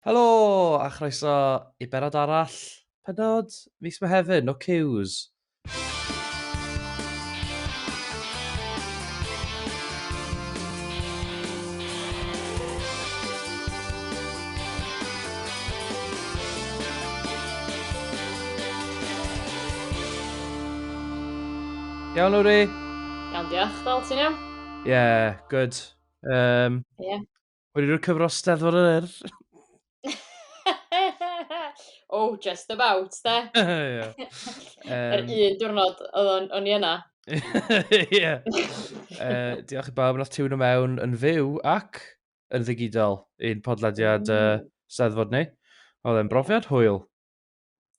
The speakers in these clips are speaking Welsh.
Helo a chroeso i benod arall, penod fis Mehefin, no cues. Iawn, Lowri? Iawn, diolch. Fel ti'n iawn? Ie, yeah, good. Um, yeah. Wedi rhoi cyfro steddfod yr yr. oh, just about, da. yeah. um, yr un diwrnod o'n, o'n i yna. Ie. uh, diolch i bawb yn tiwn o mewn yn fyw ac yn ddigidol i'n podlediad uh, steddfod ni. Oedd e'n brofiad hwyl.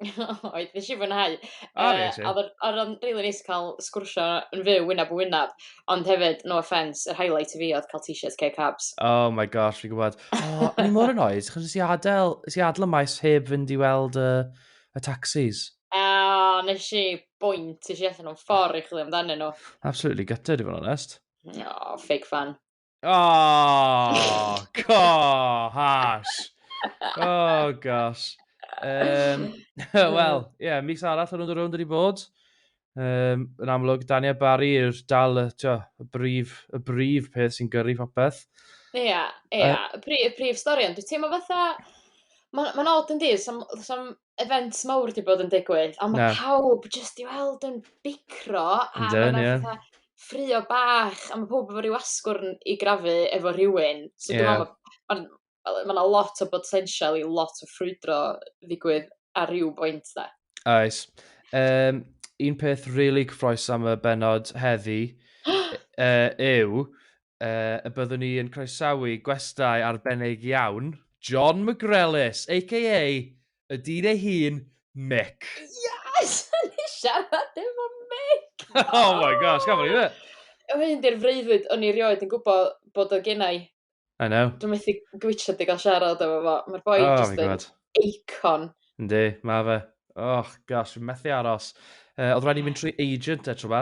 Oedd, nes i fwynhau. O, Yy, reit, ie. a odd o'n o'n rili neis ca'l sgwrsio yn fyw wynab yn wynab, ond hefyd, no offence, yr highlight i fi oedd ca'l t-shirt Keg Harbs. Oh my gosh, fi'n gwybod. O, o'n i mor annoyed, achos nes i adael, nes i adael y maes heb fynd i weld y, y taxis. A nes i bwynt, nes i allan o'n ffordd i chwilio amdanyn nhw. Absolutely gutted, i fod yn onest. O, ffug fan. Oh, co, hash. Oh, gosh. Um, Wel, ie, yeah, mis arall yn ôl wedi bod. Um, yn amlwg, Daniel Barry yw'r dal y, tio, y, brif, y brif peth sy'n gyrru popeth. Ie, yeah, ie. Yeah. Uh, y, brif, y brif stori, ond dwi'n teimlo fatha... Mae'n ma, ma od yn dydd, sam, sam events mawr 'di bod yn digwydd a ma' pawb jyst i weld yn bicro a ma' 'na fatha ffrio bach a ma' powb efo ryw asgwrn i grafu efo rhywun so dwi me'wl bo' ma'n wel ma' 'na lot o botensial i lot o ffrwydro ddigwydd ar ryw bwynt 'de. Oes. Yym un peth rili cyffrous am y bennod heddi yy yw Yy, y byddwn ni yn croesawu gwestai arbennig iawn, John McGrellis, aka y dyn ei hun, Mick. Yes! O'n i siarad efo Mick! Oh my gosh, gafodd ni fe! Oedd hyn di'r freuddwyd o'n i erioed yn gwybod bod o gen i. I know. Dwi'n methu gwytio di gael siarad efo fo. Mae'r boi oh, just yn eicon. Yndi, mae fe. Oh gosh, fi'n methu aros. Uh, oedd rhaid i fynd trwy agent e tro ba.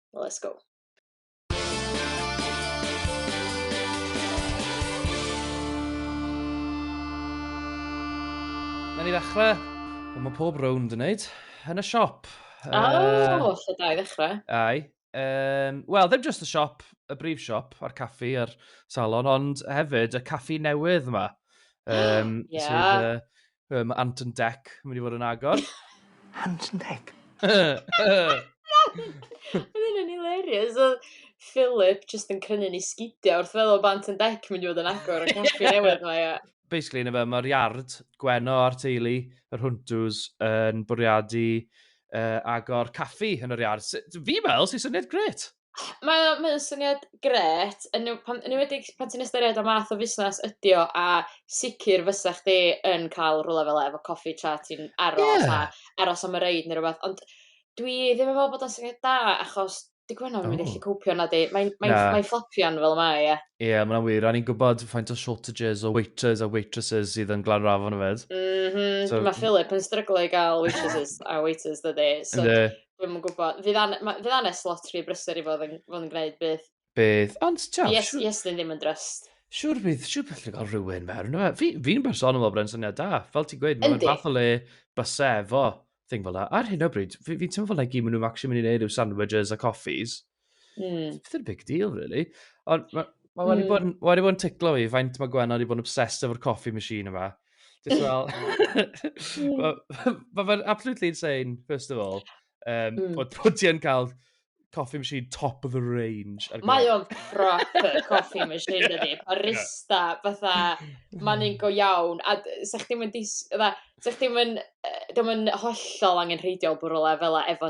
Well, let's go. Mae'n i ddechrau. Wel, mae pob rownd yn neud. Yn y siop. O, uh, oh, lle da i ddechrau. Ai. Um, Wel, ddim just y siop, y brif siop, a'r caffi a'r salon, ond hefyd y caffi newydd yma. Um, yeah. Sydd, uh, Yy, mae Ant and Dec yn mynd i fod yn agor. Ant and Dec? Oedd hynny'n hilarious. Oedd Philip just yn crynu ni sgidio wrth feddwl bod Ant and Dec yn mynd i fod yn agor y caffi newydd mae e. Basically, na fe, mae'r iard, Gwenno a'r teulu, yr Hwntws, yn bwriadu uh, agor caffi yn yr iard. Fi meddwl sy'n syniad gret. Mae o mae o'n syniad grêt, yn enw- pan... yn enwedig pan ti'n ystyried y math o fusnes ydi o, a sicr fysa chdi yn cael rywle fel 'a efo coffi tra ti'n aros... Ie. ...a aros am y reid ne' rwbath ond dwi ddim yn me'wl bod o'n syniad da achos 'di Gwenno ddim yn mynd i allu cowpio nadi? Mae'n mae'n... Na. ...mae'n fflopio'n fel mae e. Ie, ma' wnna'n wir a ni'n gwbod faint o shortages o waiters a waitresses sydd yn Glanrafon yfyd. M-hm. So... Ma' Phillip yn stryglo i ga'l waitresses a waiters dydi so... Yndi. Dwi'm yn gwbo. Fydd an- ma- fydd anes lot rhy brysur i fod yn fod yn gneud beth. Bydd, ond t'wel'... Yes, siŵr- yes, ddim yn drust. Siŵr bydd, siŵr bydd allu cael rhywun mewn. Yna, fi, fi'n bersonol fel bod e'n syniad da. Fel ti'n gweud, mae'n fath o le base efo thing fel yna. Ar hyn o bryd, fi, fi'n teimlo fel na i gyd maen nhw'n actually mynd i wneud yw sandwiches a coffees. Mm. It's a big deal, really. Ond mae ma wedi mm. bod, ma wedi bod yn ticlo fi, faint mae Gwen wedi bod yn obsessed efo'r coffee machine yma. Just fel... Mae fe'n absolutely insane, first of all. Um, mm. Bod, bod ti yn cael coffee machine top of the range. Mae o'n proper coffee machine, yeah. ydy. Barista, yeah. fatha, mae'n un go iawn. A sech chdi'n mynd, sech chdi'n mynd, ddim yn hollol angen rheidiol bwrw lefel efo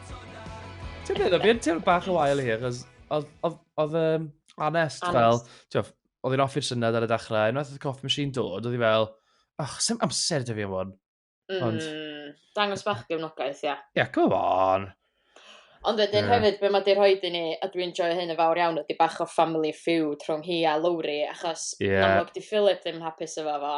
Ti'n meddwl, fi'n teimlo bach o wael i hi, achos oedd um, Anest fel, oedd hi'n offi'r syniad ar y dechrau, unwaith oedd y coffee machine dod, oedd hi fel, ach, sy'n amser dy fi am hwn. Ond... Mm, dangos bach gefnogaeth, ia. Ia, yeah, come on. Ond wedyn yeah. hefyd, be mae di rhoi i ni, a dwi'n joio hyn yn fawr iawn, ydy bach o family feud rhwng hi a Lowry, achos yeah. amlwg di Philip ddim hapus efo fo.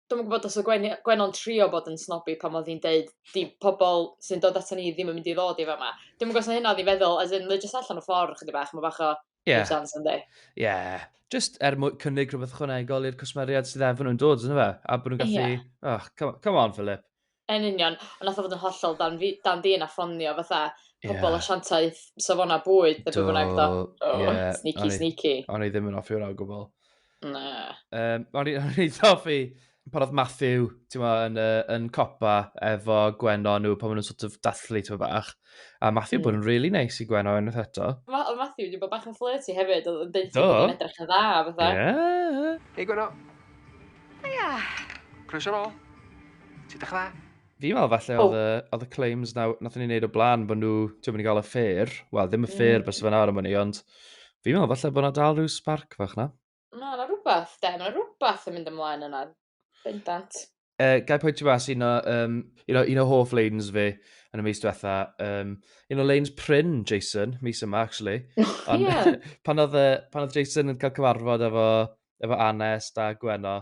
dwi'm yn gwbod os o' gwenu- Gwenno'n trio bod yn snobby pan odd 'i'n deud 'di pobol sy'n dod aton ni ddim yn mynd i ddod i fama. Dwi'm yn gwbo os o' hynna odd 'i feddwl as in mae o jyst allan o ffor chydig bach ma' bach o... Ie. ...give chance yndi? Ie. Jyst er mwy- cynnig rhwbeth ychwanegol i'r cwsmeriaid sydd efo nhw'n dod on'd yfe? A bo' nhw'n gallu... Ie. ...o come o- come on Phillip. Yn union. Ond nath o fod yn hollol dan fi- dan fi nath ffonio fatha pobol asiantaeth safona bwyd ne' be' bynnag do. Do. Ie. Oh, sneaky, O'n i- sneaky. O'n i ddim yn offi hwnna o gwbl. Na. Um, o'n i'n rhaid hoffi pan oedd Matthew, ti'n ma, yn, uh, yn copa efo Gwenno nhw pan maen nhw'n sort of dathlu, ti'n ma bach. A Matthew mm. bod yn really nice i Gwen o unwaith eto. Ma o Matthew wedi bod bach yn flirty hefyd, oedd yn dweud bod yn edrych yn dda, fatha. Yeah. Hei Gwen o. Ia. Croes ar ôl. Ti'n dech dda? Fi'n meddwl falle oedd y, oedd y claims na, nath ni'n neud o blaen bod nhw, ti'n mynd i gael y fair, wel ddim y fair mm. bys fe nawr am hynny, ond fi'n meddwl falle bod yna dal rhyw spark fach na. Na, na rhywbeth, de, na rhywbeth yn mynd ymlaen yna. Bendant. Uh, gai pwyntio mas un o, um, un o, un o hoff lanes fi yn y mis diwetha. Um, un o lanes pryn, Jason, mis yma, actually. Ond yeah. pan, oedd, pan oedd Jason yn cael cyfarfod efo, efo Anes da Gweno,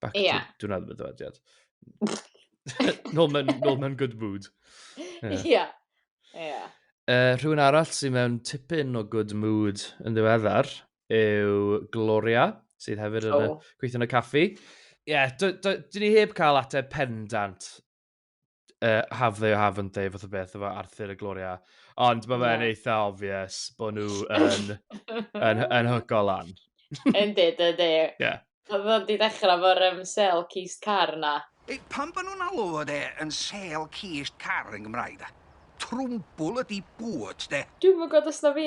Back Ie. to... Dwi'n meddwl bod dywediad. nol, mewn, nol mewn good mood. Ie. Yeah. Yeah. Uh, rhywun arall sy'n mewn tipyn o good mood yn ddiweddar yw Gloria, sydd hefyd yn oh. gweithio yn y caffi. Ie, yeah, dyn ni heb cael ateb pendant uh, have they or haven't they, fath o beth, efo Arthur a Gloria. Ond mae fe'n yeah. eitha obvious bod nhw yn, yn, yn hygo lan. Yndi, yndi. Ie. Oedd o'n di dechrau fo'r um, sel cist car na. E, pan bod nhw'n alw fod e yn sel cist car yn Gymraeg da? Trwmbwl ydi bwt, de. Dwi'n mwyn gwybod os na fi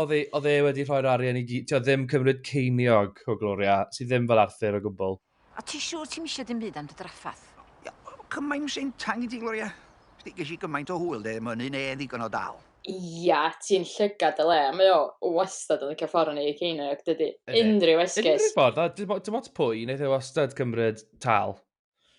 oedd e, oedd e wedi rhoi'r arian i gyd, ddim cymryd ceiniog o Gloria, sydd ddim fel Arthur o gwbl. A ti siŵr ti'm eisiau dim byd am dy draffath? Ia, cymaint yn syntang i ti, Gloria. Sdi, ges i gymaint o hwyl, de, mae'n un e ddigon o dal. Ia, ti'n llygad dy le, mae o wastad yn licio ffordd o neud ceiniog, dydy unrhyw esgus. Unrhyw ffordd, a dim ots pwy, wneith e wastad cymryd tâl.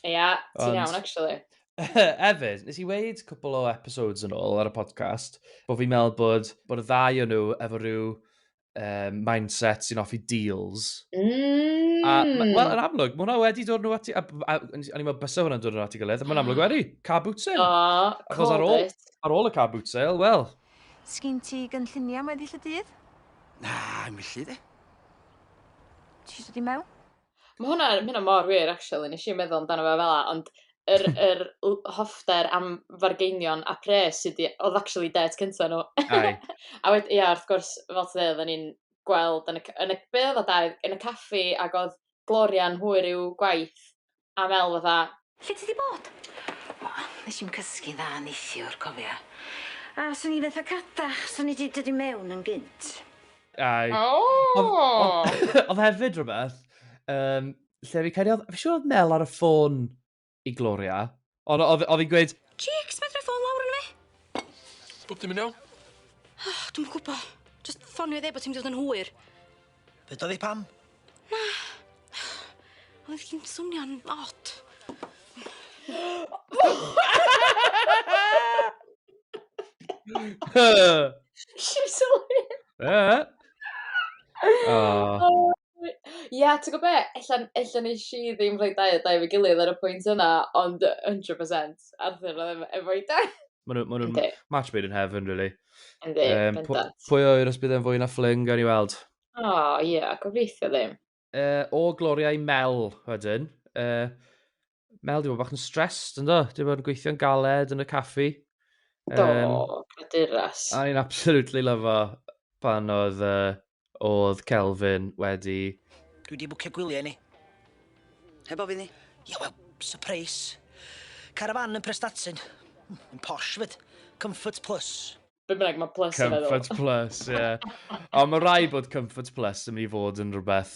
Ia, yeah, ti'n iawn, actually. Efyd, nes i weid cwpl o episodes yn ôl ar y podcast, bod fi'n meddwl bod, bod y ddau o'n nhw efo rhyw um, mindset sy'n offi deals. Mm. A, wel, yn amlwg, mae hwnna wedi dod nhw ati, a, a, a, a ni'n meddwl bysa hwnna'n dod nhw ati gilydd, a mae'n amlwg wedi, car boot sale. Oh, Achos ar ôl, ar ôl y car boot sale, wel. Sgyn ti gynlluniau am weddill y dydd? Na, yn gyllu, de. Ti'n dod i mewn? Ma' hwnna ma' hynna mor wir actually nesh i 'im meddwl amdano fe fel 'a ond yr yr l- hoffter am fargeinion a pres sy 'di... Odd actually dêt cynta n'w. Ai. A wed- ia wrth gwrs fel ti ddeu oddan ni'n gweld yn y c- yn y be' odd o dau yn y caffi ag odd Gloria'n hwyr i'w gwaith a fel fatha Lle ti 'di bod? O, nes i'm cysgu'n dda neithiwr, cofia. A swn i fetha cadach, swn i 'di dod i mewn yn gynt. Aye. Oh! Oedd hefyd rhywbeth, um, lle fi cael ei... Fi siŵr oedd Mel ar y ffôn i Gloria, ond oedd hi'n gweud... Cheeks, mae drwy ffôn lawr yn fi! Bob dim yn iawn? Oh, dwi'n gwybod. Just ffonio i ddeud bod ti'n mynd i fod yn hwyr. Deuda fi pam? Na. Oedd hi'n swnio'n od. Ia, ti'n gwybod be? Ella, ella nes i ddim rhoi dau a dau efo'i gilydd ar y pwynt yna, ond 100% Arthur oedd efo ei dad! Mae nhw'n ma nhw match made in heaven, really. Yndi, um, bendant. Pwy o os bydd e'n fwy na ffling, gan i weld. O, oh, ie, yeah, gobeithio ddim. Uh, o Gloria i Mel, wedyn. Uh, Mel, di bod bach yn stressed, ynddo? Di bod yn gweithio'n galed yn y caffi. Do, um, caduras. A ni'n absolutely lyfo pan oedd uh, oedd Kelvin wedi... Dwi di bwcio gwyliau i ni. Heb ofyn i? Ie, wel, surprise. Carafan yn Prestatyn. Yn posh fyd. Comfort Plus. Be bynnag, mae Plus yn meddwl. Comfort Plus, ie. Ond mae rhaid bod Comfort Plus yn mynd i fod yn rhywbeth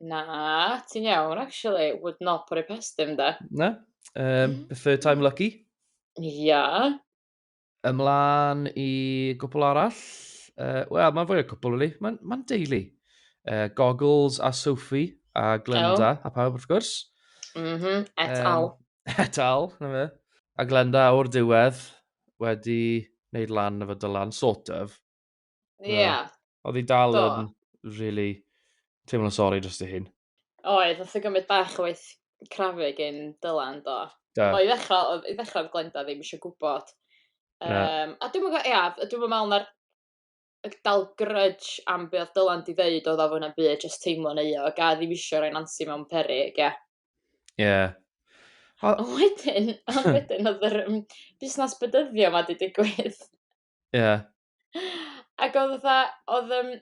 Na, ti'n iawn, actually. Would not put it past him, da. Na? Um, mm. third time lucky? Ia. Yeah. Ymlaen i gwpl arall. Uh, Wel, mae'n fwy o gwpl, really. Mae'n ma deulu. Uh, Goggles a Sophie a Glenda oh. a pawb, wrth gwrs. Mm -hmm. Et um, al. Et al, na fe. A Glenda o'r diwedd wedi wneud lan efo Dylan, sort of. Ie. Yeah. Oedd hi dal yn really teimlo'n sori dros dy hun. Oedd, oedd hi'n gymryd bach o waith crafu gyn Dylan, do. Da. O, i ddechrau, i ddechrau oedd Glenda ddim eisiau gwybod. Um, a dwi'n meddwl, ia, dwi'n meddwl na'r dal grudge am be oedd Dylan di ddeud oedd o fwy na'n byd, just teimlo'n euog, a ddim eisiau rhoi Nancy mewn perig, ia. Ie. A wedyn, a wedyn oedd yr um, busnes bydyddio ma di digwydd. Ie. Yeah. Ac oedd fatha, oedd um,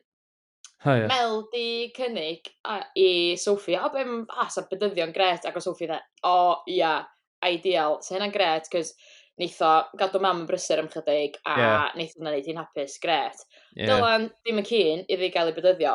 oh, yeah. Mel di cynnig a, i Sophie, o, beth a, sa bydyddion gret, ac oedd Sophie dda, o, ia, yeah, ideal, sa hynna'n gret, cos neith o gadw mam yn brysur am chydig, a yeah. neith o'n gwneud hi'n hapus, gret. Yeah. Dylan ddim yn cyn iddi gael ei bydyddio,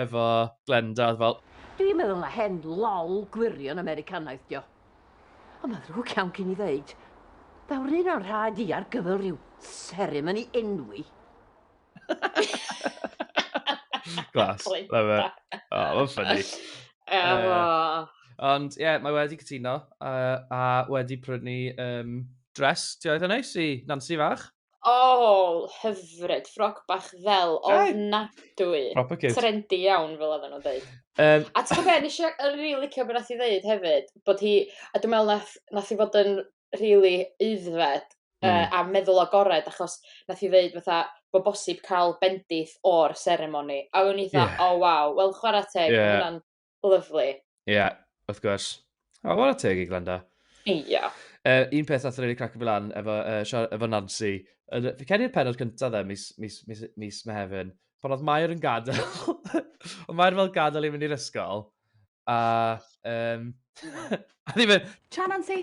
efo Glenda, oedd fel... Dwi'n meddwl na hen lol gwirion Americanaidd dio. Ond mae'n ddrwg iawn gen i ddeud, daw'r un o'n rhaid i ar gyfer rhyw seremoni enwi. Glas, love it. Oh, mae'n ffynnu. Ond ie, mae wedi cytuno a wedi prynu dress. Ti oedd yn neis i Nancy fach? Oh, hyfryd. Ffroc bach fel ofnadwy. Proper cute. Trendy iawn, fel oedden nhw'n dweud. Um, a ti'n gwybod, nes i yn rili licio beth nath i ddeud hefyd, bod hi, a dwi'n meddwl nath, nath i fod yn rili eiddfed mm. uh, a meddwl agored, achos nath i ddeud fatha, bod bosib cael bendith o'r seremoni. A o'n i dda, yeah. oh waw, wel chwarae teg, yeah. hwnna'n Lyflu. Ie, yeah, wrth gwrs. O, oh, teg i Glenda. Ie. Yeah. Uh, un peth nath rili crac fi lan efo, uh, efo Nancy. Uh, fi cedi'r penod cyntaf dde, mis, mis, mis, mis Mehefin. Pan oedd Mair yn gadael. oedd Mair fel gadael i fynd i'r ysgol. A, um, a ddim yn... Cha Nancy!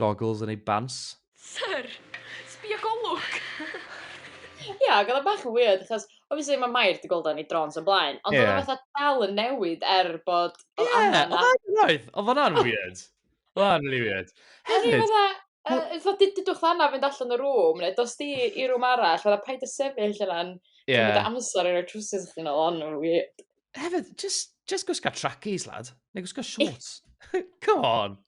Goggles yn ei bants. Syr! Sbia golwg! Ie, ac oedd o bach yn weird, achos, obviously, mae Mair wedi gweld o yn ei drôns o'r blaen, ond oedd o fatha dal yn newid er bod... Ie, oedd o'n roedd, oedd o'n weird. Oedd o'n really weird. Hefyd... Oedd o'n dydwch fanna fynd allan y rŵm, neu dos di i rŵm arall, oedd o'n paid y sefyll yna'n... Ie. ...Dwi'n amser i roi trwsys i chdi nôl, ond o'n weird. Hefyd, just, just gwisga trackies, lad. Neu gwisga shorts. Come on.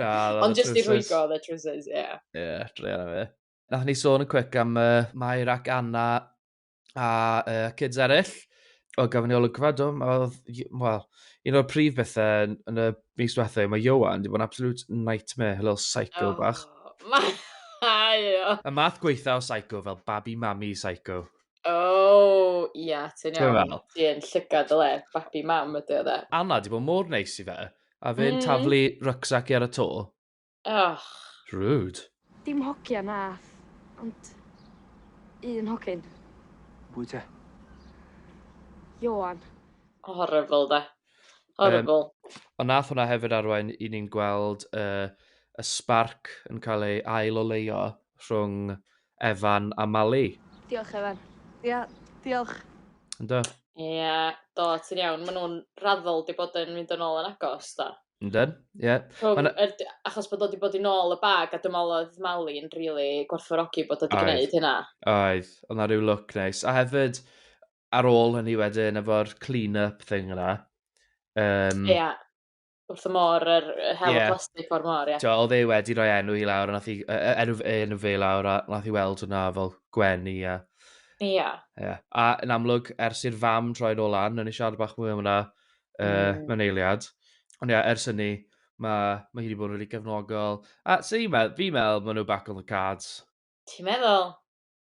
Ah, Ond jyst i rhwygo oedd y trwsus, ie. Yeah. Ie, yeah, drean am e. Nath ni sôn yn cwic am uh, Mair ac Anna a uh, kids eraill. O, gafon ni olygfa, do, oedd, wel, un o'r prif bethau yn y mis diwethaf, mae Johan, di bod yn absolute nightmare, a little psycho oh, bach. Mae o. Y math gweitha o psycho, fel babi mami psycho. O, oh, ia, ti'n iawn. Ti'n llygad y le, babi mam ydy o dde. Anna, di bod mor neis i fe. A fe'n mm. taflu rucksack i ar y to. Och. Rude. Dim hogia nath, ond un hogyn. Bwy te? Johan. Horrible da. Horrible. Um, ond nath hwnna hefyd arwain i ni'n gweld uh, y spark yn cael ei ail o leio rhwng Evan a Mali. Diolch Evan. Ia, diolch. Yndw. Ia, do, ti'n iawn. Maen nhw'n raddol di bod yn mynd yn ôl yn agos, do. Yndyn, ie. Rhwng Mae'n- yr... Achos bod o wedi bod i nôl y bag, a dwi'n meddwl oedd Mali yn rili gwerthfawrogi bod o wedi Oedd. gwneud hynna. Oedd, oedd na rhyw look neis. A hefyd, ar ôl hynny wedyn, efo'r clean-up thing yna, um, Ia, wrth y môr, yr hel yeah. plastig o'r môr, ie. Yeah. Oedd e wedi rhoi enw i lawr, nath i, enw, enw fe lawr, a nath i weld hwnna fel gwenu, ie. Yeah. Ie. Yeah. Yeah. A yn amlwg, ers i'r fam troi'n ôl lan, o'n i siarad bach mwy am hwnna uh, mm. mewn eiliad. Ond ie, yeah, ers hynny, mae ma hi wedi bod yn rili gefnogol. A sy'n i'n meddwl, fi'n meddwl, maen nhw back on the cards. Ti'n meddwl?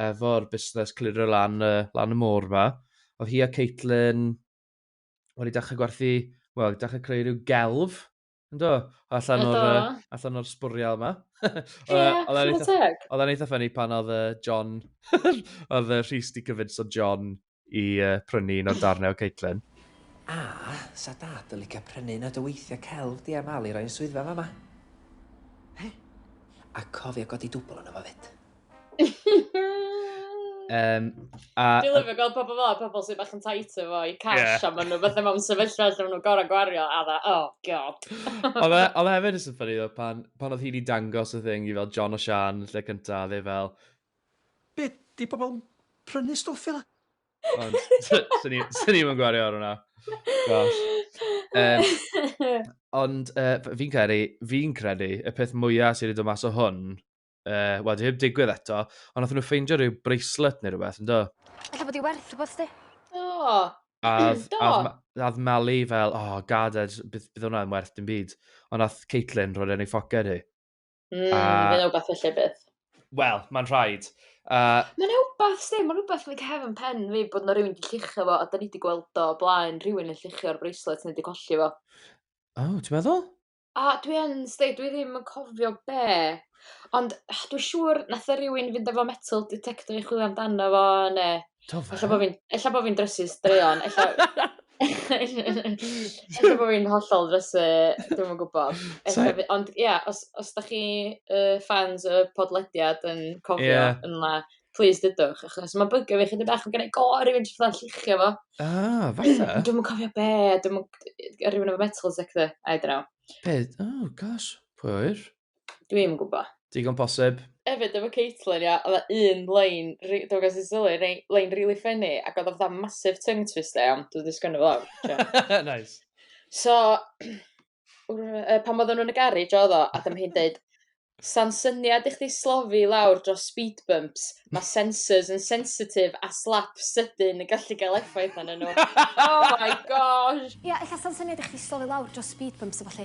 efo'r busnes clirio lan, uh, lan y môr fa. Oedd hi a Caitlin wedi dechrau gwerthu, wel, dechrau creu rhyw gelf, ynddo, allan o'r, uh, allan o'r sbwriel yma. yeah, oedd e'n eitha ffynnu pan oedd uh, John, oedd uh, Rhys di cyfyd so John i uh, prynu un o'r darnau o Caitlin. A, sa dad yn licio prynu un o dyweithiau celf di am al i roi'n swyddfa fama. He? A cofio godi dwbl yna fo fyd. Um, a... Dwi'n lyfio gweld pobl fel, pobl sy'n bach yn tight efo i cash, yeah. a maen nhw beth mewn sefyllfa lle maen nhw'n gorau gwario, a dda, oh god. Oedd e, e hefyd yn sy'n ffynnu, pan, pan oedd hi'n i dangos y thing i fel John o Sian, lle cyntaf, fe fel, Be? 'Di pobl yn prynu stwff i 'na? Ond, swn i, swn i'm yn gwario ar hwnna. Gosh. Um, ond uh, fi'n credu, fi'n credu, y peth mwyaf sydd wedi dod mas o hwn, uh, wel, di heb digwydd eto, ond nath nhw ffeindio rhyw bracelet neu rhywbeth, ynddo? Alla bod i werth rhywbeth di. Do. Add, Do. add, add Mali fel, oh, gaded, bydd, bydd hwnna'n werth dim byd. Ond nath Caitlin roed e'n ei ffoced hi. Mm, a... Fydd rhywbeth felly bydd. Wel, mae'n rhaid. Uh, mae'n rhywbeth, sti, mae'n rhywbeth yn y cefn pen fi bod yna rhywun wedi llichio fo, a da ni wedi gweld o blaen rhywun yn llichio'r bracelet neu wedi colli fo. O, oh, ti'n meddwl? A dwi yn, sti, dwi ddim yn cofio be. Ond dwi'n siŵr nath o rhywun fynd efo metal detector i chwilio amdano fo, neu Do fe? Ella bo' fi'n ella bo' fi'n drysu straeon ella ella bo' fi'n hollol drysu dwi'm yn gwbod. Ella by- ond ia os os dach chi yy ffans y podlediad yn cofio... Ie. ...yn la plîs dudwch achos ma' bygio fi chydig bach ma' gennai go rywun jyst fatha lluchio fo. Ah falle. Dwi'm yn cofio be' dwi'm yn g- yy rywun efo metal detector I dunno. Be'? Oh gosh. Pwy a ŵyr? Dwi'm yn gwybod. Digon posib. Hefyd efo Caitlyn ia, oedd 'na un lein, ri- dwi'n gwybod os ti'n sylwi, rei- lein rili ffenni, ac oedd o fatha massive tongue twister iawn, dwi'n wedi sgwennu fo lawr. Joio. nice. So, uh, pan oedden nhw'n y garej oedd o, a dyma hi'n deud, Sa'n syniad i chdi slofi lawr dros speed bumps, mae sensors yn sensitif a slap sydyn yn gallu cael effaith arnyn nhw. oh my gosh! Ia, ella sa'n syniad i chdi slofi lawr dros speed bumps a ballu.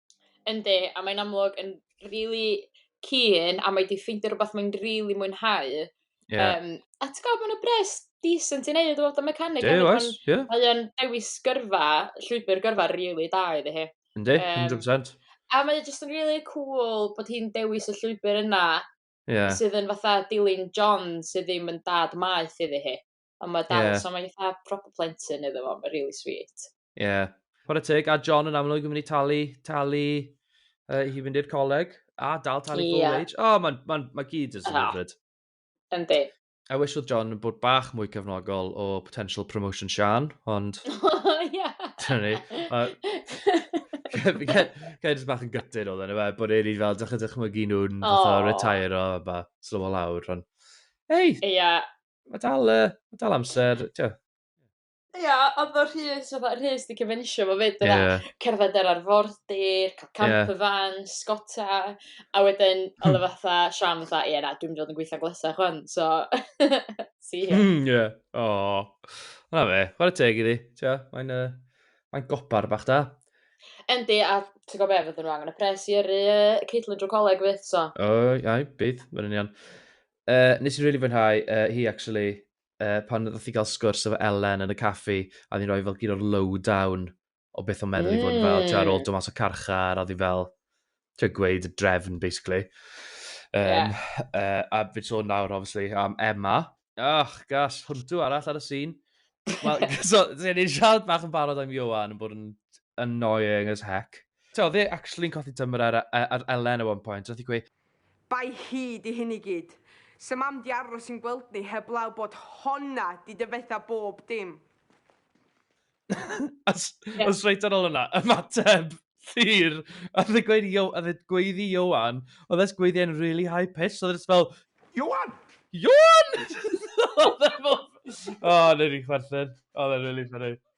Yndi, a mae'n amlwg yn rili keen a mae 'di ffeindio rwbath mae'n rili mwynhau. Ie. Yym, a ti'n gwybod, mae'n bres decent i wneud o fod yn mechanic. Ie, oes, ie. Mae o'n dewis gyrfa, llwybr gyrfa rili da iddi hi. Yndi, 100%. A mae jyst yn rili cool bod hi'n dewis y llwybr yna sydd yn fatha dilyn John sydd ddim yn dad maeth iddi hi. Ond mae dal, yeah. so mae'n eitha proper plentyn iddo fo, mae'n really sweet. Ie. Yeah. Chwarae teg, a John yn amlwg yn mynd i talu, talu uh, i fynd i'r coleg, a dal talu yeah. full wage. O, oh, mae ma, ma gyd yn symudfyd. Ah, yndi. I wish oedd John yn bod bach mwy cefnogol o potential promotion Sian, ond... Ie. Dyna ni. Gael jyst bach yn gytid oedd yna fe, bod e'n fel, dych chi'n dychmygu nhw'n oh. retire o, ba, slow o lawr, ond... Ei! Ia, Mae dal, uh, ma dal amser, tio. Ia, oedd o'r rhys, oedd o'r rhys di cyfensio fo fyd yna. Yeah. Cerdded ar arfordir, cael camper yeah. van, sgota, a wedyn hmm. oedd o fatha, Sian fatha, ie na, dwi'n mynd yn gweithio glesa chwan, so, si hi. Mm, ie, o. Na fe, chwarae y teg iddi, tio, mae'n uh, mae gobar bach da. Endi, a ti'n gwybod beth, fydden nhw angen y pres i yrru uh, Caitlin drwy coleg fydd, so. O, ai, bydd, mae'n union. Uh, nes i'n really fwynhau uh, hi, actually, uh, pan ddod i gael sgwrs efo Ellen yn y caffi, a ddyn rhoi fel gyd o'r lowdown o beth o'n meddwl mm. i fod yn fel, ti'n ar ôl dod mas o carchar, a ddyn fel, ti'n gweud y drefn, basically. Um, yeah. uh, a fi so nawr, obviously, am Emma. Ach, gas, hwntw arall ar y sîn. Wel, so, ti'n ei siarad bach yn barod am Johan yn bod yn annoying as heck. So, dde actually'n cothi tymor ar, ar Ellen at one point, roedd i gweud, Bai hi 'di hyn i gyd. Sa mam 'di aros yn gweld ni heblaw bod honna 'di dyfetha bob dim. Os reit ar ôl hwnna, ymateb Llyr, a fe gweud Io- a fe gweud i Ioan, oedd e's gweud e'n really high pitched, oedd e jyst fel, Ioan! Ioan! Oedd e fel, o, neud fi chwerthin. Oedd e'n really funny.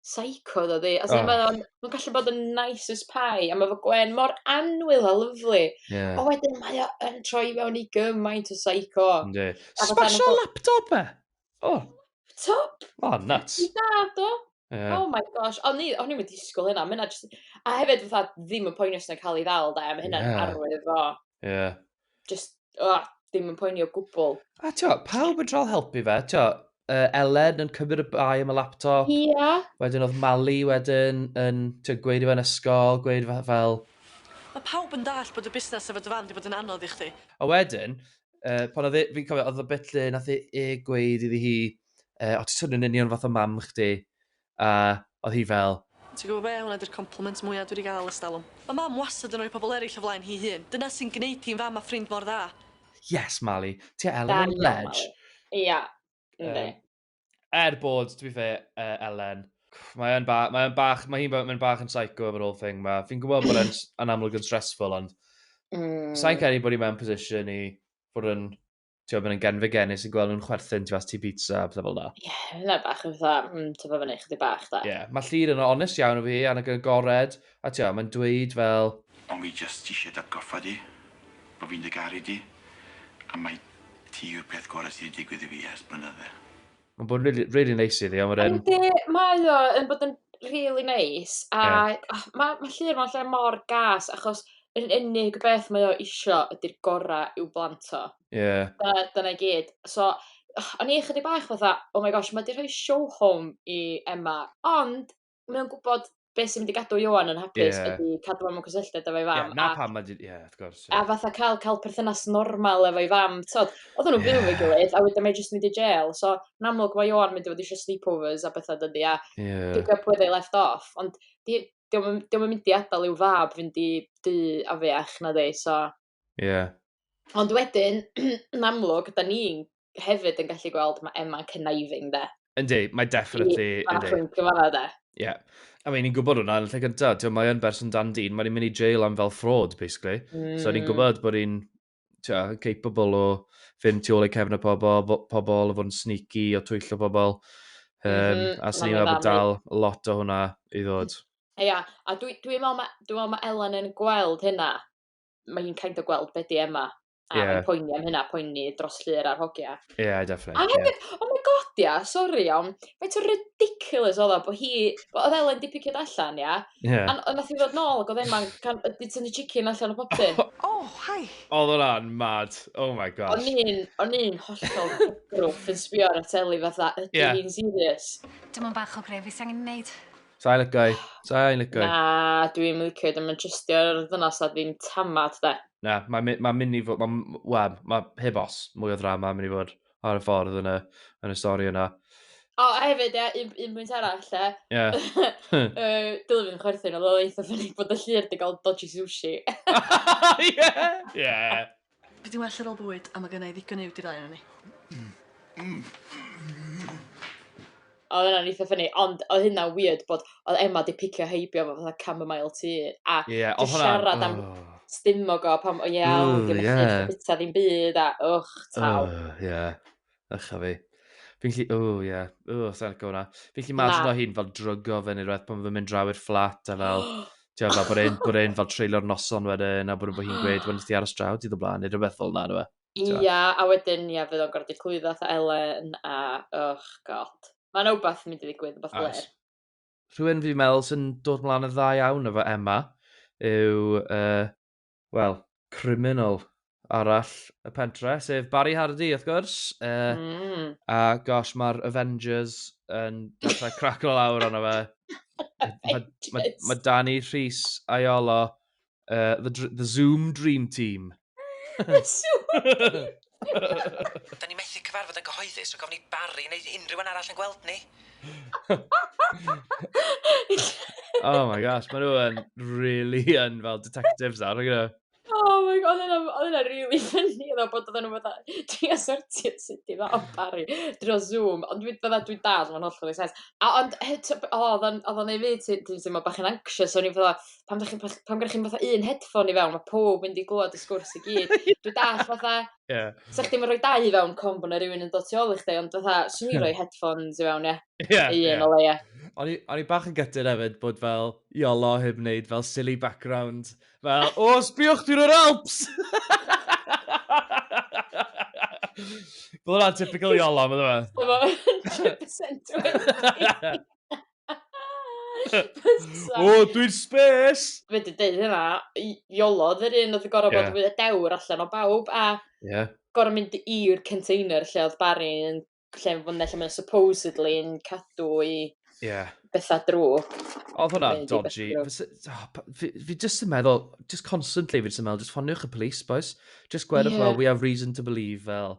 seico ddo di. As in, oh. mae o'n ma gallu bod yn nice as pie, a mae fy gwen mor anwyl a lyflu. Yeah. O wedyn mae o yn troi mewn i gymaint o seico. Ynddi. Smasho laptop e! Oh. Laptop? Oh, nuts. I dad o. Yeah. Oh my gosh. O'n i, o'n i'n mynd disgwyl hynna. Myna just... A hefyd, fatha, ddim yn poenus na cael ei ddal, da. Mae hynna'n yeah. arwydd o. Yeah. just, oh, ddim yn poeni o gwbl. A tio, pawb yn trol helpu fe, tio, uh, Elen yn cymryd y bai am y laptop. Ia. Yeah. Wedyn oedd Mali wedyn yn tio, gweud i fe'n ysgol, gweud fel... Mae pawb yn dall bod y busnes efo dy fan di bod yn anodd i chdi. A wedyn, uh, pan oedd e, fi'n cofio, oedd y bit lle nath e, e gweud iddi hi, uh, o ti'n swnio'n union fath o mam chdi, a oedd hi fel. Ti'n gwybod be, hwnna 'di'r compliment mwya' dwi 'di gael ers talwm. Mae Mam wastad yn rhoi pobl eraill o flaen hi'i hun. Dyna sy'n gwneud hi'n fam a ffrind mor dda. Yes Mali, ti a Elen yn lej. Ia, yndi. Er bod, to be fair, Elen, mae yn ba- mae yn bach, mae hi'n mynd bach yn psycho efo'r whole thing ma. Fi'n gwybod bod e'n amlwg yn stressful, ond... Mm. ...Sa'n credu bod hi mewn position i fod yn ti'n bod yn gen fe genus yn gweld nhw'n chwerthin tu fas ti pizza a pethau fel da. Ie, yeah, yna bach yn fatha, mm, ti'n bod fyny chdi bach da. Ie, yeah, mae llir yn onest iawn o fi, a nag yn gored, a ti'n mae'n dweud fel... Ond fi jyst eisiau dy atgoffa di, bod fi'n dy garu di, a mae ti yw'r peth gorau sydd wedi digwydd i fi ers blynydde. Mae'n bod yn really, really neis iddi. Ond wedyn... Yndi, mae o yn bod yn really neis. A yeah. oh, mae ma llun mewn lle mor gas, achos yr unig beth mae o isio ydy'r gorau i'w blant o. Yeah. Dyna, dyna i gyd. So, o'n i chydig bach fatha, oh my gosh, mae di rhoi show home i Emma. Ond, mae o'n gwybod beth sy'n mynd i gadw Ioan yn hapus yeah. ydy cadw am y cysylltiad efo'i fam. Yeah, na a, pam, ie, yeah, wrth gwrs. Yeah. A fatha cael, cael perthynas normal efo'i fam, tod, oedd nhw'n yeah. byw efo'i gilydd, a wedyn mae jyst mynd i jail. So, yn amlwg mae Ioan mynd i fod eisiau sleepovers a bethau dydy, a yeah. pick up where they left off. Ond diolch yn mynd i adael i'w fab fynd i dy afiach na dde, so... Ie. Yeah. Ond wedyn, yn amlwg, da ni'n hefyd yn gallu gweld mae Emma'n conniving, de. Yndi, mae definitely... I, yndi. Mae'n gyfanna, de. Ie. Yeah. I mean, ni'n gwybod hwnna yn y lle gyntaf. Ti'n mae yn berson dan dyn, mae'n mynd i jail am fel fraud, basically. Mm. So ni'n mm. gwybod bod hi'n capable o fynd tu ôl ei cefn y pobol, pobol o fod yn sneaky, o twyllo pobol. Um, mm -hmm. A sy'n ni'n meddwl dal lot o hwnna i ddod. Ia, a dwi'n dwi meddwl mae dwi meddwl ma Ellen yn gweld hynna. mae hi'n kind of gweld beth di Emma. A yeah. mae'n poeni am hynna, poeni dros llyr ar hogia. Ie, yeah, definitely. A hefyd, yeah. oh my god, ia, yeah, sori, iawn. Mae'n to ridiculous oedd o, bod hi, oedd Elen di piciad allan, ia. Yeah. A, a nath i ddod nôl, ac oedd Emma'n, di tynnu chicken allan o popyn. oh, hi. Oedd o'n mad, oh my god. O'n un, o'n un hollol grwff yn sbio ar y teli fatha, ydy yeah. hi'n serious. Dim ond bach o gref, fi sy'n angen neud. Sa'i licio i. Sa'i licio i. Na, dwi'n licio i. Dwi'n mynd trystio'r ddynas a ddim tamad, de. Na, mae'n ma mynd i fod... Mae ma, heb os, mwy o ddrama yn mynd i fod ar y ffordd yn y, yn y stori yna. O, a hefyd, ie, un, un pwynt arall, lle. Ie. uh, Dylen fi'n chwerthin, oedd o eitha ffynig bod y llir di gael dodgy sushi. Ie! Ie! Fi 'di well ar ôl bwyd a ma' gynna i ddigon i fyw 'dy'r ddau onon ni. Odd wnna'n eitha ffyni ond odd hynna'n wierd bod odd Emma 'di picio heibio fo fatha chamomile tea a... Ie odd hwnna'n... ...'di siarad am stumog o pan o ie o 'di o'm yn ffit na bita ddim byd a ych t'mel. Ych ie. Ych a fi. Fi'n lli... O, ie. Yeah. O, sa'n licio hwnna. Fi'n lli imagine o hi'n fel drygo fe neu rhywbeth pan fe'n mynd draw i'r fflat a fel... Ti'n fel bod e'n bod e'n fel treulio'r noson wedyn a bod hi'n gweud, wel, nes ti aros draw dydd o blaen neu rhywbeth fel yna, nhw e. Ia, a wedyn, ia, fydd o'n gorfod clwyddo atho Elen a, och, god. Mae yna wbath yn mynd i ddigwydd, wbath blêr. Rhywun fi'n meddwl sy'n dod mlaen yn dda iawn efo Emma yw uh, wel, criminal arall y pentre, sef Barry Hardy, wrth gwrs. Uh, mm. A gosh, mae'r Avengers yn dechrau craclo lawr arno fe. Mae ma, ma Danny Rhys Aiolo, uh, the, the Zoom Dream Team. the Zoom Dream Da ni methu cyfarfod yn gyhoeddus, so gofyn i Barry neu unrhyw un arall yn gweld ni. oh my gosh, maen nhw yn really yn fel detectives nawr, you know. Oh my god, oedd yna really funny yna bod oedd nhw fatha, dwi a sortio sut i dda o Barry drwy Zoom, ond dwi'n fydda dwi'n dal, mae'n hollol ei sens. A ond, oedd o'n ei fyd, ti'n teimlo bach yn anxious, o'n i'n fydda, pan dych chi'n pan gyda chi'n fatha un headphone i fewn, mae pob mynd i glwad y sgwrs i gyd. Dwi'n dall fatha, yeah. sa'ch chdi'n rhoi dau i fewn com bod yna rhywun yn dod tu ôl i chdi, ond fatha, swn i'n rhoi headphones i fewn, ie. Yeah, un yeah. o leia. O'n i bach yn gytid hefyd bod fel Iolo heb wneud fel silly background. Fel, o, sbiwch dwi'n yr Alps! Bod hwnna'n typical Iolo, mae'n dweud. Mae'n 100% wedi. o, dwi'n spes! Fe di dweud hynna, iolo, ddy'r un oedd y gorau yeah. bod fwy o dewr allan o bawb, a yeah. gorau mynd i'r container lle oedd Barry yn lle yn fwynhau lle mae'n supposedly yn cadw i yeah. bethau drwg. Oedd hwnna dodgy. Ah, fi, fi just yn meddwl, just constantly fi just yn meddwl, just ffoniwch y police, boys. Just gwedwch yeah. fel, we have reason to believe, fel.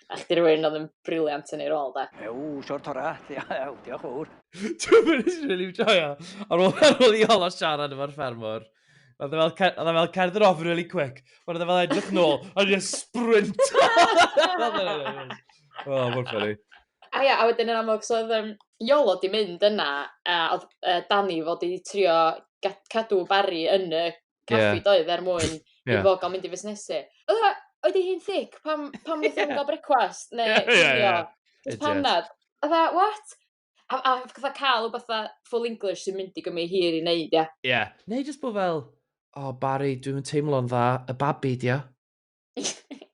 A chdi rwy'n oedd yn briliant yn ei rôl, da. Ew, siwr tora. Ew, diolch fawr. Dwi'n mynd i'n rili joio. Ar ôl, ar ôl i Ola siarad efo'r ffermwr, oedd e fel, oedd e fel cerdd yr off really quick. Ond oedd e fel edrych nôl, a dwi'n sprint. o, mor ffynnu. A ia, a wedyn yn amlwg, so oedd um, Iolo di mynd yna, a oedd uh, Dani fod i trio cadw Barry yn y caffi yeah. doedd er mwyn yeah. i fo gael mynd i fusnesu. Oedd e, oedd ei hi'n thic pam, pam wnaeth yeah. gael brecwast neu yeah, yeah, yeah. Just panad. Oedd e, what? A, a fatha cael o fatha full English sy'n mynd i gymryd hir i wneud, ia. Yeah. Yeah. Neu jyst bod fel, oh Barry, dwi'n teimlo'n dda, y babi, dia.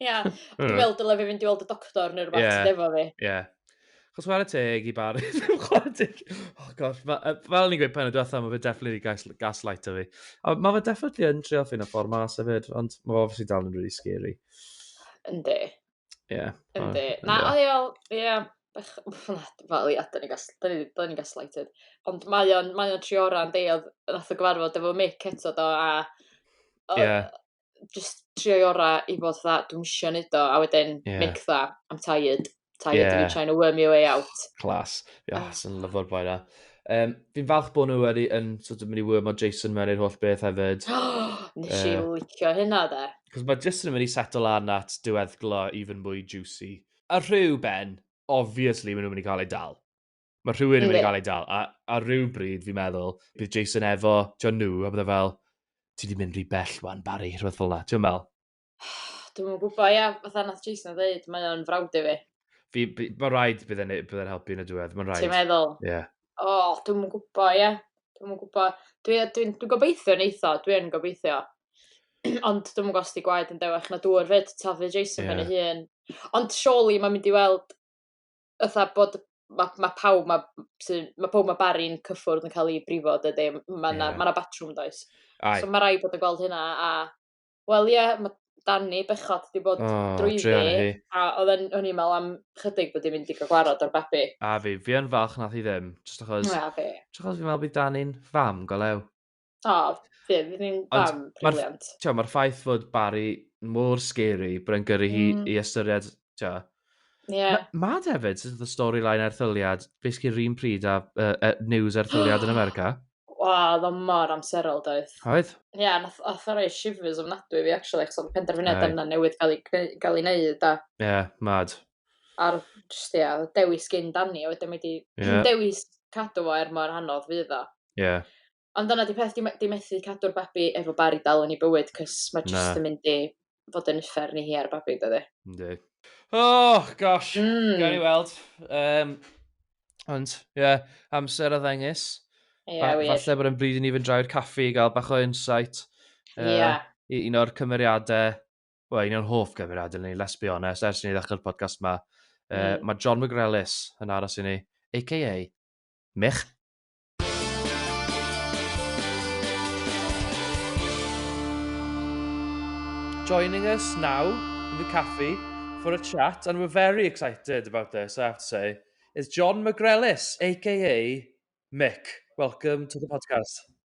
Ia, dwi'n meddwl dyle fi fynd i weld y doctor neu rhywbeth yeah. efo fi. Ie. Yeah. Chos mae'r teg i bar. oh gosh, fel ni'n gweud pen y diwethaf, mae fe definitely gas, gaslight o fi. A mae fe definitely yn trio ffyn o ffordd mas hefyd, ond mae fe obviously dal yn really scary. Yndi. Ie. Yeah. Yndi. Na, o ie, ie. Fel ia, da ni'n gaslighted. Ond mae o'n, mae o'n trioran deiod, nath o gyfarfod efo Mick eto do, a... Ie. Yeah just trio'i ora i fod fatha, dwi'n isio neud o, a wedyn yeah. make that, I'm tired, tired yeah. of you trying to worm your way out. Clas, ia, yeah, sy'n lyfo'r boi na. Um, fi'n falch bod nhw wedi yn sort of mynd i wyrmo Jason mewn i'r holl beth hefyd. Nes i uh, licio hynna de. Cos mae Jason yn mynd i settle lan at diweddglo even mwy juicy. A rhyw ben, obviously maen nhw'n mynd i cael ei dal. Mae rhywun yn mynd i gael ei dal. A, a rhyw bryd, fi'n meddwl, bydd Jason efo John New, a bydde fel, ti wedi mynd rhy bell wan, Barry, rhywbeth fel yna. Ti'n meddwl? Dwi'n mwyn gwybod, ia, fatha nath Jason o ddeud, mae o'n frawd i fi. Fi, fi mae rhaid bydd e'n bydd e'n helpu yn y diwedd, mae'n rhaid. Ti'n meddwl? Ie. Yeah. O, oh, dwi'n mwyn gwybod, ia. Dwi'n mwyn gwybod. Dwi'n dwi, dwi, dwi gobeithio yn eitho, dwi'n gobeithio. Ond dwi'n mwyn gwybod os di gwaed yn dewech na dŵr fyd, tafi Jason yeah. pen ei hun. Ond surely mae'n mynd i weld fatha bod ma' ma' pawb 'ma m- sy ma' powb ma' Bari'n cyffwrdd yn ca'l 'i brifo dydi m- ma' 'na... Ie. ...ma' 'na batrwm does? Aye. So ma' raid bod yn gweld hynna a wel ie ma' Dani bechod 'di bod... O drueni hi. ...drwyddi a odd e'n o'n i'n me'wl am chydig bod 'i'n mynd i ga'l gwarad o'r babi. A fi. Fi yn falch nath hi ddim jyst achos... Na fi. ...jys achos fi'n me'wl bydd Dani'n fam go lew. O, fi, fi ddim fan briliant. Mae'r ma ffaith fod Barry mor scary, bryn gyrru hi mm. i ystyried, tio. Yeah. Ma, mad hefyd, sydd y storyline erthyliad, basically rhywun pryd a uh, uh, news erthyliad yn America. Wa, ddo mor amserol doedd. Oedd? Ie, yeah, nath oth o'r ei shivers ofnadwy fi, actually, chos oedd y penderfyniad yna newydd gael ei, gael ei wneud. Ie, yeah, mad. ar just, ia, dewis gyn Dani, a wedyn mae di yeah. dewis cadw fo er mor anodd fydd o. Ie. Yeah. Ond dyna di peth, di, di methu cadw'r babi efo bari dal yn ei bywyd, cys mae just yn mynd i fod yn uffer ni hi ar y babi, dydy. Yndi. Oh, gosh. Mm. Gael ni weld. Um, ond, ie, yeah, amser a ddengis. Ie, yeah, wir. Falle bod yn bryd i ni fynd drau'r caffi i gael bach o insight. Ie. Uh, yeah. Un o'r cymeriadau well, un o'n hoff gyfeiriadau ni, let's be honest, ers ni ddechrau'r podcast yma. Uh, mm. Mae John McGrellis yn aros i ni, a.k.a. Mich. Joining us now in the cafe for a chat, and we're very excited about this, I have to say, is John McGrellis, a.k.a. Mick. Welcome to the podcast.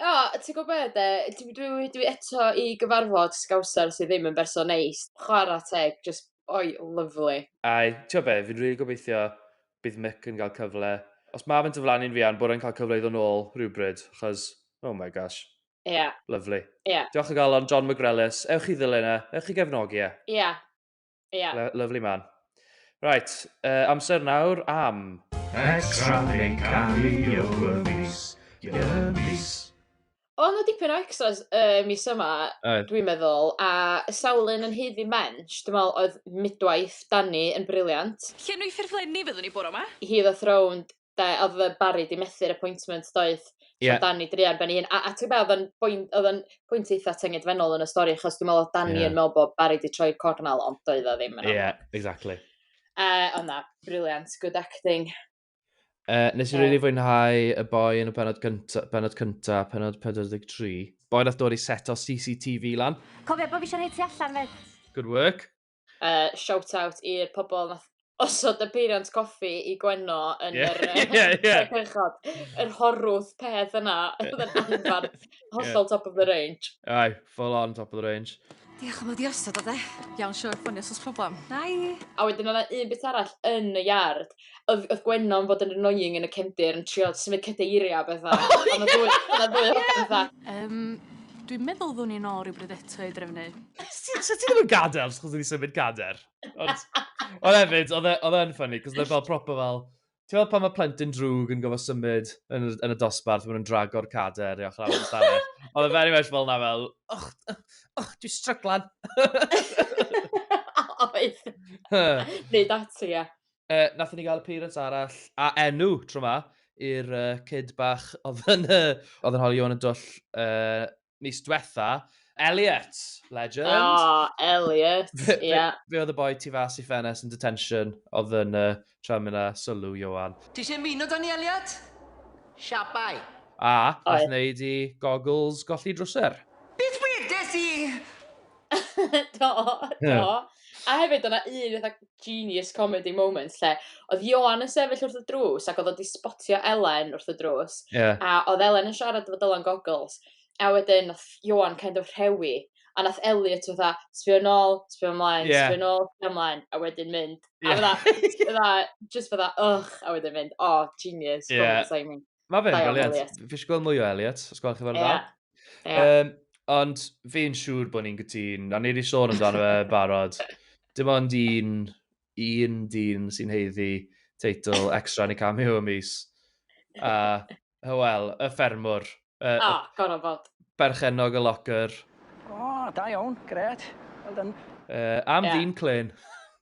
O ti gwbo be' 'de dwi dwi wy- dwi eto i gyfarfod sgawsar sy ddim yn berson neis chwara teg jyst oi lyfli. A t'o' be' fi'n rili gobeithio bydd Mick yn ga'l cyfle. Os ma' fe'n diflannu'n fuan bod e'n ca'l cyfle i ddo' nôl rywbryd 'chos oh my gosh. Ia. Lyfli. Ia. Diolch o galon John McRelis. Ewch i ddilyn e. Ewch i gefnogi e. Ia. Ia. Yeah. Lovely man. Right, uh, amser nawr am... Extra yn cael ei o'r mis, i'r mis. O, na dipyn o extras uh, mis yma, dwi'n meddwl, a sawlun yn heiddi mench, dwi'n meddwl oedd midwaith Danny yn briliant. Llenwi ffurflenni fyddwn ni bore yma. He the Throned da, oedd y Barry di methu'r appointment doedd yeah. so Danny druan ben ei hun a, a ti'n beth oedd yn pwynt eitha tyngedfennol yn y stori achos dwi'n meddwl oedd Danny yeah. yn meddwl bod Barry di troi'r cornel ond doedd o ddim yn yeah, exactly uh, ond na, briliant, good acting Uh, nes i yeah. really fwynhau y boi yn y penod cynta, penod cynta, penod 43. Boi nath dod i set o CCTV lan. Cofio bod fi eisiau rhaid ti allan fyd. Good work. Yy shout out i'r pobol nath osod y peiriant coffi i Gwenno yn Ie yr yy ie ie. y cychod. Yr horwth peth yna oedd yn anfarth, hollol top of the range. Aye, full on top of the range. Diolch am ddod i osod o 'de. Iawn siŵr ffonio os o's problam. Bye! A wedyn o' 'na un bit arall yn y iard oedd, oedd Gwennon fod yn annoying yn y cefndir yn trio symud cadeiriau a bethau. Oh, yeah. Ond oedd ddwy hogan fatha. Um, dwi'n meddwl ddwn i'n ôl rhywbryd eto i drefnu. Sut ti ddim yn gadael os chos wedi symud gader? Ond, ond hefyd, oedd e, e yn ffynnu, cos oedd e fel proper fel, ti'n meddwl pan mae plentyn drwg yn gofod symud yn, yn y dosbarth, maen nhw'n drago'r cader i ochr arall stafell. Oedd e very much fel na fel, och, och, dwi'n stryglan. Oedd. Neu dati, ie. uh, nath ni gael appearance arall, a enw tro ma, i'r uh, kid bach oedd yn, uh, oedd yn holi o'n y dwll uh, mis diwetha. Elliot, legend. Oh, Elliot, ie. yeah. Fe oedd y boi tu fas i ffenes yn detention, oedd yn uh, tram yna, sylw, Johan. Ti eisiau ymuno da ni, Elliot? Siapau. A, nath wneud i goggles golli drwser. Beth wedes i? do, do. Yeah. A hefyd, o'na un eitha genius comedy moment lle, oedd Johan yn sefyll wrth y drws ac oedd o di spotio Elen wrth y drws. Yeah. A oedd Elen yn siarad efo Dylan Goggles. A wedyn, oedd Johan kind of rhewi. A nath Elliot oedd fatha, sbio nôl, sbio ymlaen, yeah. sbio nôl, sbio ymlaen. A wedyn mynd. Yeah. A fydda, just fydda, ugh. A wedyn mynd, oh, genius. Yeah. Mae fe'n briliant. Fi eisiau gweld mwy o Elliot, os gwelwch chi fel yeah. dda. Yeah. Um, ond fi'n siŵr bod ni'n gytun, a ni wedi sôn amdano fe barod. Dim ond un, un dyn sy'n heiddi teitl extra neu cameo y mis. A, uh, wel, y ffermwr. Uh, ah, oh, gorau bod. Berchenog y locker. O, oh, da iawn, gret. Well done. Uh, am yeah. ddyn clen.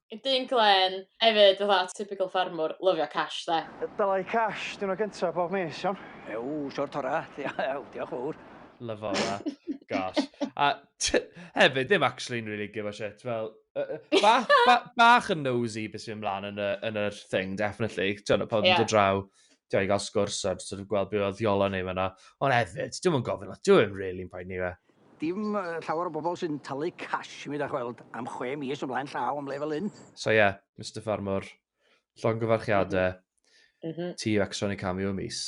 Y dyn glên, hefyd fatha typical ffarmwr, lyfio cash 'de. Dylai cash diwrnod gynta bob mis, iawn? Ew, siwr tora, ew, diolch fowr. Lyfo hwnna. Gosh. A t- hefyd, ddim actually'n really give a shit, fel, yy yy ba- ba- bach yn nosey be' sy'n mynd mlan yn y yn yr thing, definitely. T'mod, odd pawb yn dod draw, t'mod, i ga'l sgwrs a jyst sort of gweld be' odd 'di olo ni fana. Ond hefyd, dwi'm yn gofyn lot, dyw e ddim rili'n poeni fi. Dim llawer o bobl sy'n talu cash i mi da chweld am chwe mis o blaen llaw am le fel hyn. So ie, Mister Ffarmwr, llongyfarchiade ti yw extra neu cameo y mis.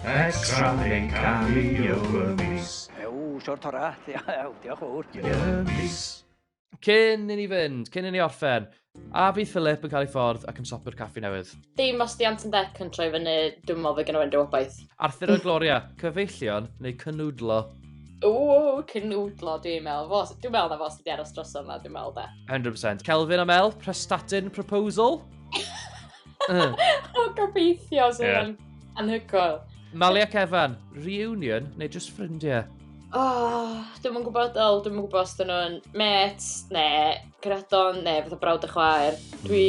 Extra neu cameo y mis. Ew, siwr tora, diolch fowr. Y mis. Cyn i ni fynd, cyn i ni orffen, a bydd Philip yn cael ei ffordd ac yn sopi'r caffi newydd? Dim os di Anton Deck yn troi fyny, dwi'n meddwl fe gynnu fe'n dywobaeth. Arthur a Gloria, cyfeillion neu cynwdlo? O, cynwdlo, dwi'n meddwl. Dwi'n meddwl na fo sydd wedi aros dros yma, dwi'n meddwl da. 100%. Kelvin a Mel, prestatyn proposal? Uh. o, gobeithio, so yeah. yn anhygoel. Mali ac Evan, reunion neu just ffrindiau? Oh, dwi'n mwyn gwybod, ol, dwi'n mwyn gwybod os dyn nhw'n met, ne, gradon, ne, fath o brawd a chwaer. Hmm. Dwi...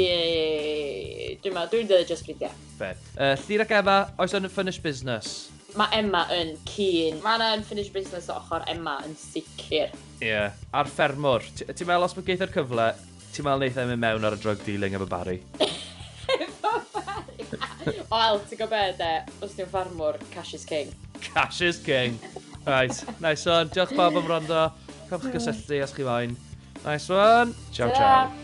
Dwi'n meddwl, dwi'n dweud just ffrindiau. Fe. Uh, Llyr ac Emma, oes o'n unfinished business? Mae Emma yn cyn. Mae yna unfinished business o ochr Emma yn sicr. Ie. Yeah. A'r ffermwr. Ti'n meddwl os mae geitho'r cyfle, Ti'n meddwl wneith e mynd mewn ar y drug dealing efo Barry? efo Barry? Wel, ti'n gwybod beth e, os ti'n ffarmwr, cash is king. Cash is king. Right, nice one. Diolch bob am rondo. Cofch gysylltu os chi moyn. Nice one. Ciao, ciao. ciao.